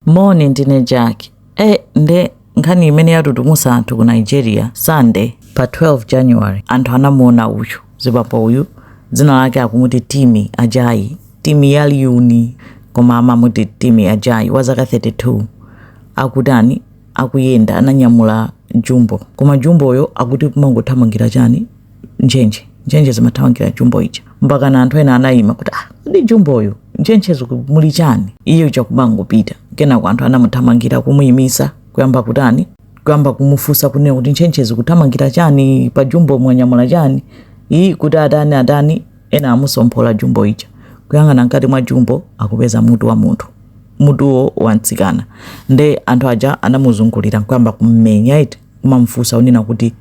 moni ndine jack e nde nkhani imene yatutumusa anthu ku nigeria sunday pa 12 january anthu anamuona uyu zibaba uyu dzina lake akumuti timi ajayi timi yaliuni koma amamuti timi ajayi wa zaka 32 akutani akuyenda ananyamula jumbo koma jumboyo akuti kumangothamangira chani ntchentche ntchentche zimathamangira jumbo ija mpakana anthu ena anayima kuti ah ndi jumboyo ntchentche zikumuli chani iye uja kumangopita kenako anthu anamuthamangira kumuyimisa kuyamba kutani kuyamba kumufunsa kunena kuti ntchentche zikuthamangira chani pa jumbo mwanyamula chani iye kuti atani atani ena amutsomphola jumbo ija kuyang'ana mkati mwa jumbo akupeza mutu wa munthu mutuwo wamtsikana nde anthu aja anamuzungulira nkuyamba kummenya eti kumamfunsa unena kuti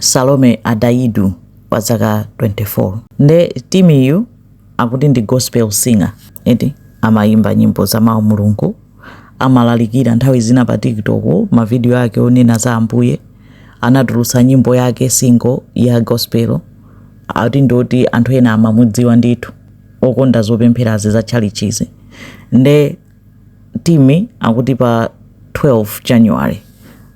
Salome Adaidu wa zaka 24 nde timiyu akuti ndi gospel singer eti amayimba nyimbo za mawu mulungu amalalikira nthawi zina pa tiktok mavidiyo ake onena za ambuye anatulutsa nyimbo yake single ya gospel ati ndi oti anthu ena amamudziwa ndithu okonda zopempherazi za tchalichizi nde Timmy akuti pa 12 January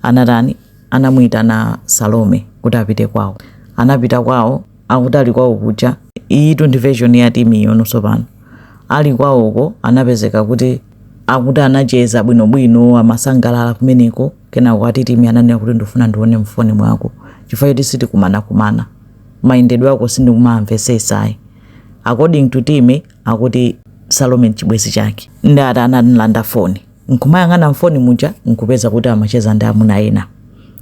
anatani anamuitana Salome kuti apite kwawo. Anapita kwawo akuti ali kwawo kuja iyitu ndi version ya Timmyyo no tsopano. Ali kwawoko anapezeka kuti akuti anacheza bwinobwino amasangalala kumeneko kenako ati Timmy ananena kuti ndikufuna ndione mfoni mwako chifukwa choti sitikumanakumana. Mayendedwe ako sindikumaamvetsetsa ayi. According to Timmy akuti salome nchibwenzi chake nde ati analanda foni nkumayang'ana mfoni muja nkupeza kuti amacheza ndi amuna ena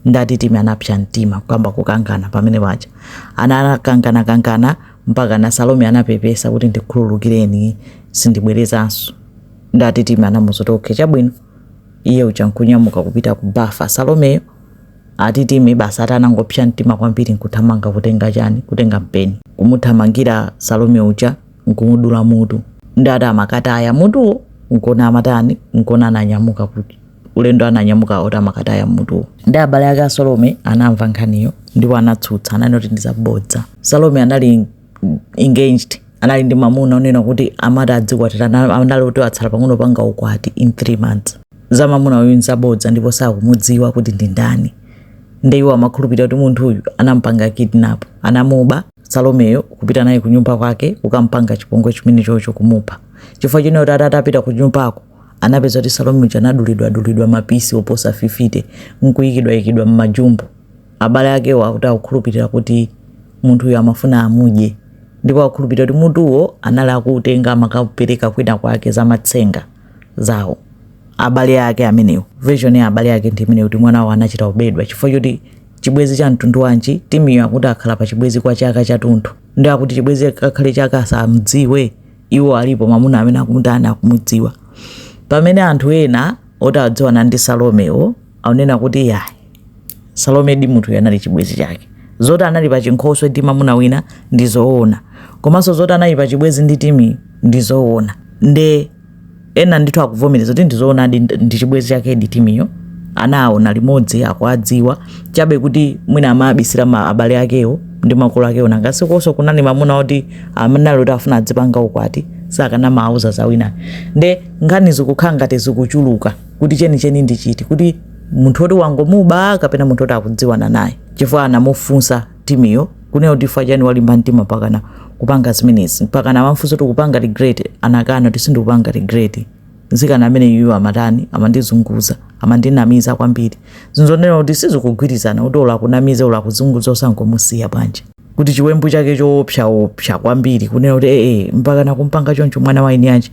nde ati timi anapsa mtima kuyamba kukangana pamene paja anakangana-kangana mpakana salome anapepesa kuti ndikhululukireni sindibwerezanso nde ati timi anamuuza kuti oke chabwino iye uja nkunyamuka kupita ku bafa salomeyo Ati timi basi ati anangopsya mtima kwambiri nkuthamanga kutenga chani kutenga mpeni kumuthamangira Salome uja nkumudula mutu nde ati amakataya mutuwo nkona amatani nkona ananyamuka kuti ulendo ananyamuka oti amakataya mutuwo nde abale ake a Salome anamva nkhaniyo ndipo anatsutsa ananena kuti ndi zabodza Salome anali engaged anali ndi mamuna onena kuti amati adzakwatirana anali kuti atsala pang'ono panga ukwati in three months za mamuna uyu nzabodza ndipo sakumudziwa kuti ndi ndani nde iwo amakhulupirira kuti munthu uyu anampanga kidnap anamuba salomeyo kupita naye kunyumba kwake kukampanga chipongwe chimene chocho kumupha chifukwa choti akuti atapita kunyumbako anapeza kuti salome uja anadulidwadulidwa mapisi oposa 50 nkuyikidwayikidwa mmajumbo Abale akewo akuti akukhulupirira kuti munthuyo amafuna amudye ndipo akukhulupirira kuti mutuwo anali akuutenga akakaupereka kwinakwake zamatsenga zawo. Abale ake amenewo, version ya abale ake ndi imeneyo kuti mwanawo anachita kubedwa chifukwa choti chibwezi cha mtundu wanji? Timmy-yo akuti akhala pa chibwezi kwa chaka chatunthu ndi akuti chibwezi chake kakhale chaka asamdziwe. Iwo alipo mwamuna amene akumutani akumudziwa. Pamene anthu ena oti adziwana ndi Salomewo aunena kuti yayi salome ndi munthuyo anali chibwezi chake zoti anali pa chinkhoswe ndi mamuna wina ndi zoona komanso zoti anali pa chibwezi ndi timi ndi zoona nde ena ndithu akuvomereza kuti ndizoona ndi ndi chibwezi chake ndi timiyo anawaona limodzi akuwadziwa chabe kuti mwina amabisira ma abale akewo ndi makolo akewo nanga sikonso kunali mamuna oti amene ali kuti afuna adzipanga ukwati sakanamauza za wina nde nkhani zikukhala ngati zikuchuluka kuti chenicheni ndi chiti kuti munthu oti wangomuba kapena munthu oti akudziwana naye chifukwa anamufunsa timiyo kunena kuti chifukwa chani walimba mtima mpakana kupanga zimenezi mpakana amamfunsa kuti kupanga regret anakana kuti sindikupanga regret mtsikana ameneyu amatani amandizunguza amandinamiza kwambiri zinthu zonena kuti sizikugwirizana kuti ola kunamiza ola kuzunguza osangomusiya bwanji kuti chiwembu chake choopsa opsa kwambiri kunena kuti ee mpakana kumpanga choncho mwana wa eniake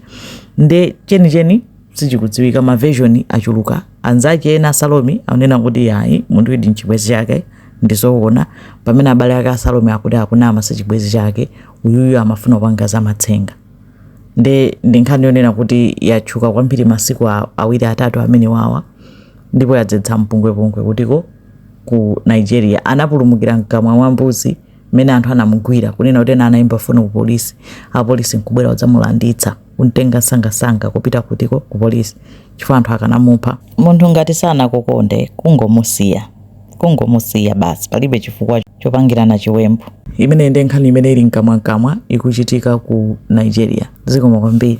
nde chenicheni sichikudziwika ma version achuluka anzake ena a salome akunena kuti yayi munthuyudi ndi chibwezi chake ndizoona pamene abale ake a salome akuti akunama sichibwezi chake uyuyu amafuna kupanga za matsenga nde ndi nkhani yonena kuti yatchuka kwambiri masiku a- awiri atatu amenewawa ndipo yadzetsa mpungwepungwe kutiko ku nigeria anapulumukira mkamwa mwa mbuzi mmene anthu anamugwira kunena kuti ena anayimba foni ku polisi apolisi nkubwera kudzamulanditsa kuntenga msangamsanga kupita kutiko ku polisi chifukwa anthu akanamupha. Munthu ngati sanakukonde kungomusiya kungomusiya basi palibe chifukwa chopangirana chiwembu. Imeneyi nde nkhani imene ili mkamwamkamwa ikuchitika ku Nigeria. Zikomo kwambiri.